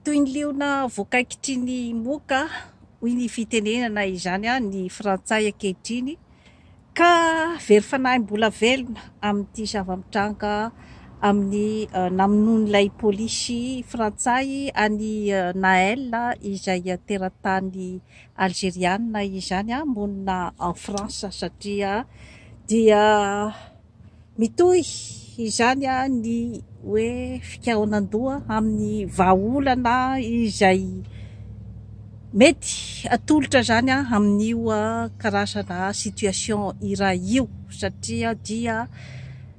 Toy ny liona voakaikitry ny moka, hoy ny fitenenana izany, ny frantsay ankehitriny, ka very fanahy mbola velona amin'ity zava-mitranga amin'ny namonoan'ilay polisy frantsay an'i Naël izay teratany Alzeriana izany monina ao France satria dia Mitohy izany ny hoe fikaonan-doha amin'ny vahaolana izay mety atolotra izany amin'io karazana situation iray io satria dia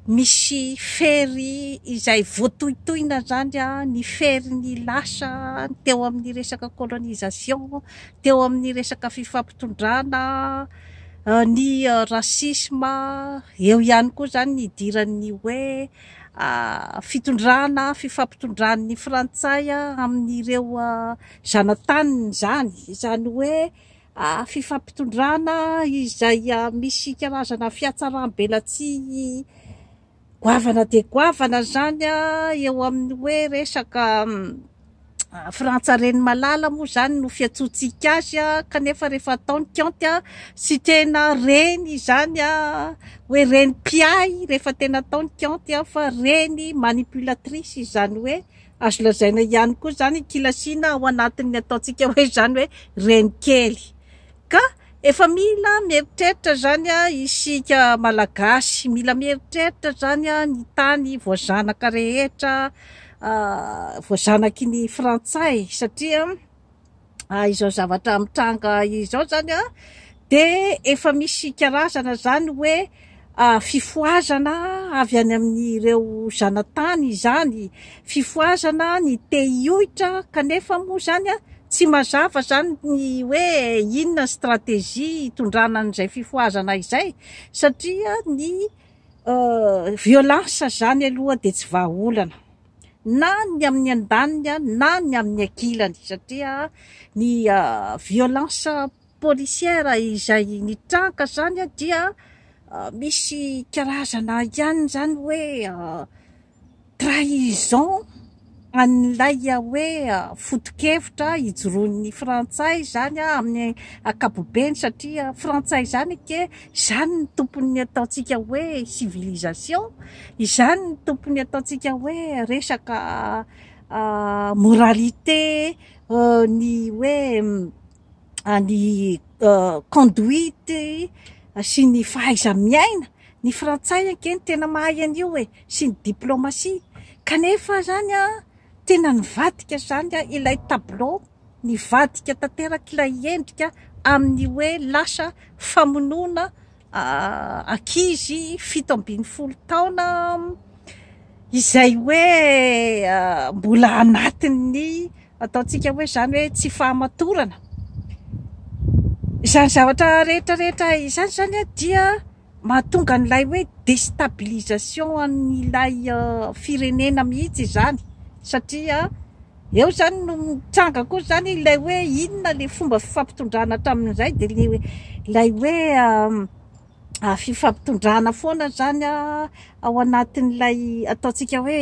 misy fery izay voatohitohina izany ny ferin'ny lasa teo amin'ny resaka colonisation, teo amin'ny resaka fifampitondrana. Ny racisme eo ihany koa izany ny idiran'ny hoe fitondrana, fifampitondran'ny frantsay amin'ireo zanataniny izany, izany hoe fifampitondràna izay misy karazana fihatsaram-belatsihy. Goavana dia goavana izany eo amin'ny hoe resaka Frantsa reny malala moa izany no fiantsoantsika azy kanefa rehefa atao ny kaonty tsy tena reny izany hoe reny mpiahy rehefa tena atao ny kaonty fa reny manipulatrice izany hoe azo lazaina ihany koa izany kilasiana ao anatin'ny ataontsika hoe izany hoe reny kely ka Efa mila mieritreritra zany isika malagasy, mila mieritreritra zany ny tany voazanaka rehetra voazanaky ny frantsay satria izao zavatra mitranga izao zany dia efa misy karazana zany hoe Fifohazana avy any amin'ireo zanatany izany, fifohazana ny te hioitra kanefa moa izany tsy mazava izany ny hoe inona ny stratégie hitondrana an'izay fifohazana izay satria ny violence izany aloha dia tsy vahaolana na ny amin'ny andaniny na ny amin'ny ankilany satria ny violence policière izay nitranka izany dia misy karazana ihany izany hoe trahison an'ilay hoe foto-kevitra ijoroan'ny frantsay izany amin'ny ankapobeny satria frantsay izany anie izany no tompon'ny ataontsika hoe civilisation, izany no tompon'ny ataontsika hoe resaka moralité ny hoe ny conduite sy ny fahaiza-miaina. Ny frantsay ange no tena mahay an'io e! sy ny diplomasia. Kanefa izany tena nivadika izany ilay tableau, nivadika tanteraka ilay endrika amin'ny hoe lasa famonoana ankizy fito ambin'ny folo taona izay hoe mbola anatin'ny ataontsika hoe izany hoe tsy fahamatorana izany zavatra rehetra rehetra izany izany a dia mahatonga an'ilay hoe destabilisation an'ilay firenena mihitsy izany satria Eo izany no mitranga koa izany ilay hoe inona ilay fomba fifampitondrana hatramin'izay dia ilay hoe ilay hoe fifampitondrana foana izany ao anatin'ilay ataontsika hoe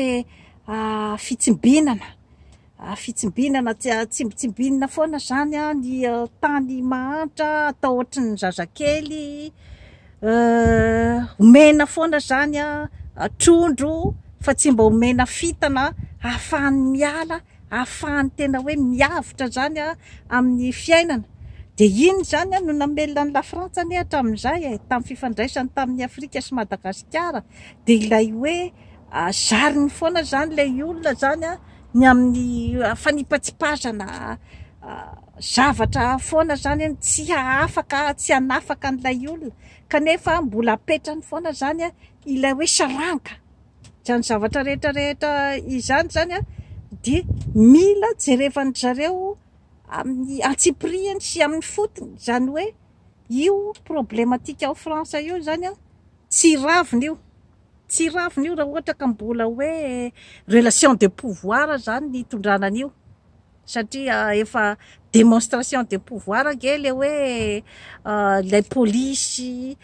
fitsimbinana, fitsimbinana tsy atsimbintsimbinina foana izany ny tany mahantra atao ohatry ny zazakely. Euh omena foana zany ah trondro fa tsy mba omena fintana ahafahany miala ahafahany tena hoe miavotra zany ah amin'ny fiainana de iny zany ah no namelona an'i lafrantsa anie hatramin'izay e tamin'ny fifandraisany tamin'ny afrika sy madagasikara de ilay hoe zariny foana zany ilay olona zany ah ny amin'ny fanipatsipazana Zavatra hafa foana izany an, tsy hahafaka tsy hanafaka an'ilay olona kanefa mbola apetrany foana izany ilay hoe saranga izany zavatra rehetra rehetra izany izany an, dia mila jerevan-dry zareo amin'ny antsipirihany sy amin'ny fotony izany hoe io problematika ao France io izany an, tsy ravina io, tsy ravina io raha ohatra ka mbola hoe relation de pouvoir izany no hitondrana an'io. satria efa demonstration de pouvoir ange le hoe ilay polisy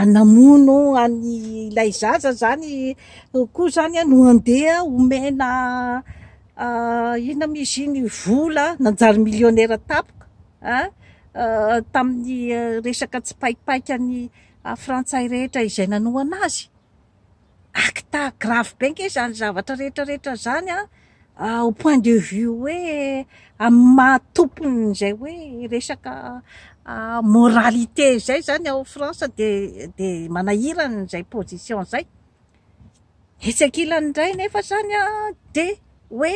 namono any ilay zaza zany koa zany a no andeha omena inona moa izy iny vola nanjary millionnaire tapoka a tamin'ny resaka tsipaipaikany frantsay rehetra izay nanohana azy acte grave be ange izany zavatra rehetra rehetra izany an, au point de vue hoe amin'ny maha tompon'izay hoe resaka moralité izay izany ao France dia dia manahirana izay position izay, etsy ankilany indray nefa izany an dia hoe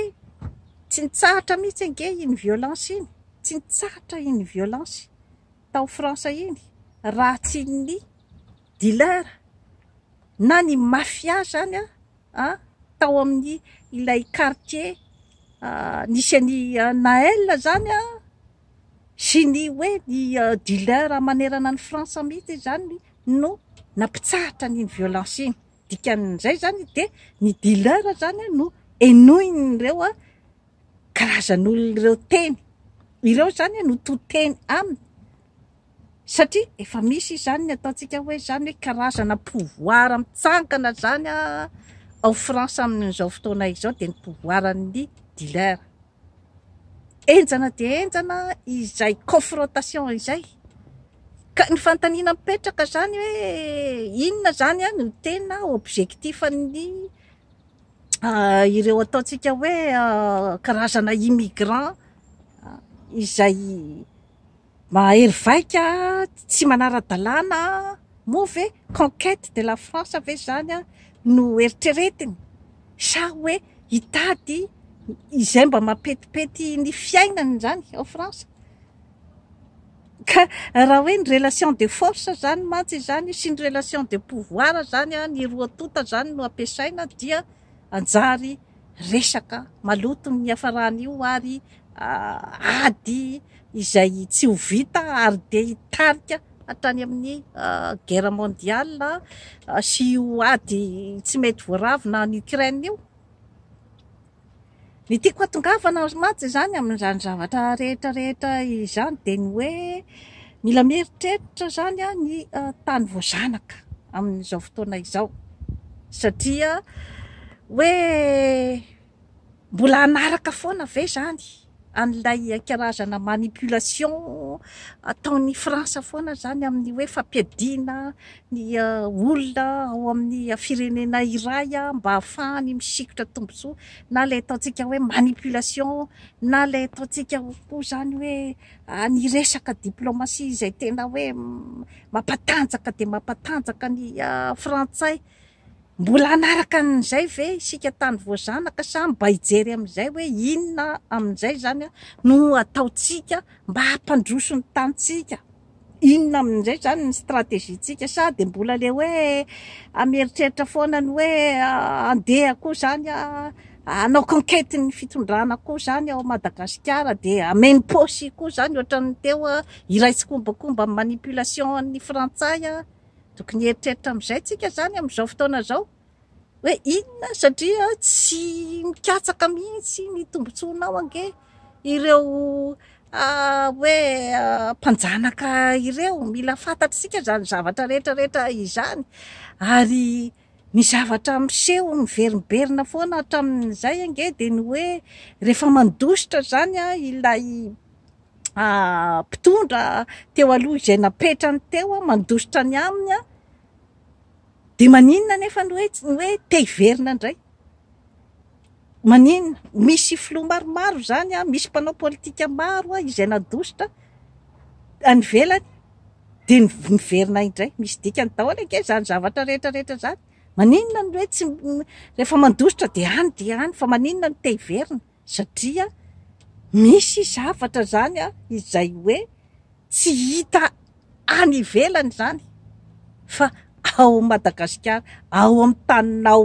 tsy nitsahatra mihintsy ange iny violence iny, tsy nitsahatra iny violence tao France iny raha tsy ny dealer na ny mafia zany a tao amin'ny ilay quartier nisy an'i Naël zany a sy ny hoe ny dealer manerana an'i France mihitsy zany no nampitsahatra an'iny violence iny. Dikan'izay zany dia ny dealer zany no henoin'ireo karazan'olona ireo teny. Ireo zany no to teny aminy. satria efa misy izany ny ataontsika hoe izany hoe karazana pouvoir mitsangana izany ao France amin'izao fotoana izao dia ny pouvoiran'ny dealer. Henjana dia henjana izay confrontation izay. Ka ny fanontaniana mipetraka izany hoe inona izany ah, no tena objectifan'ny ah, ireo ataontsika hoe ah, karazana immigrant ah, izay Mahery vaika tsy manara-dalàna moa ve conquête de la France ve izany no eritreretiny sa hoe hitady izay mba mampetipety ny fiainany izany ao France? Ka raha hoe ny relation de force izany mantsy izany sy ny relation de pouvoir izany, ny roa tonta izany no ampiasaina dia hanjary resaka maloto ny niafaran'io ary ady izay tsy ho vita ary dia hitarika hatrany amin'ny guerre mondiale sy io ady tsy mety voaravina any Ukraine io. Ny tiako hatongavana ry Mats izany amin'izany zavatra rehetra rehetra izany dia ny hoe mila mieritreritra izany ny tany voazanaka amin'izao fotoana izao satria hoe mbola hanaraka foana ve izany an'ilay karazana manipulation ataon'i France foana izany amin'ny hoe fampiadiana ny olona ao amin'ny firenena iray mba hahafahany misikotra tombontsoa na ilay ataontsika hoe manipulation na ilay ataontsika koa izany hoe ny resaka diplomatie izay tena hoe mampatanjaka dia mampatanjaka ny frantsay Mbola hanaraka an'izay ve isika tany voazanaka sa mba hijery amin'izay hoe inona amin'izay izany no hataontsika mba hampandroso ny tanintsika? Inona amin'izay izany ny strategie-ntsika? Sa dia mbola ilay hoe mieritreritra foana ny hoe handeha koa izany hanao conquête ny fitondrana koa izany ao Madagasikara dia hameno paosy koa izany ohatran'ny teo iray tsikombakomba amin'ny manipulation an'ny frantsay? Tokony hieritreritra amin'izay tsika izany amin'izao fotoana izao hoe inona satria tsy mikatsaka mihitsy ny tombontsoanao ange ireo ah, hoe ah, mpanjanaka ireo. Mila fantatr'isika izany zavatra rehetra rehetra izany ary Ny zavatra miseho miverimberina foana hatramin'izay ange dia ny hoe rehefa mandositra izany ilay mpitondra teo aloha izay napetrany teo mandositra ny aminy dia maninona anefa ny hoe te hiverina indray? Maninona? Misy filoha maromaro izany, misy mpanao politika maro izay nadositra any ivelany dia niverina indray. Misy dikany daholo ange izany zavatra rehetra rehetra izany. Maninona no hoe tsy, rehefa mandositra dia any dia any fa maninona no te hiverina? Satria misy zavatra izany izay hoe tsy hita any ivelany izany fa ao Madagasikara, ao amin'ny taninao.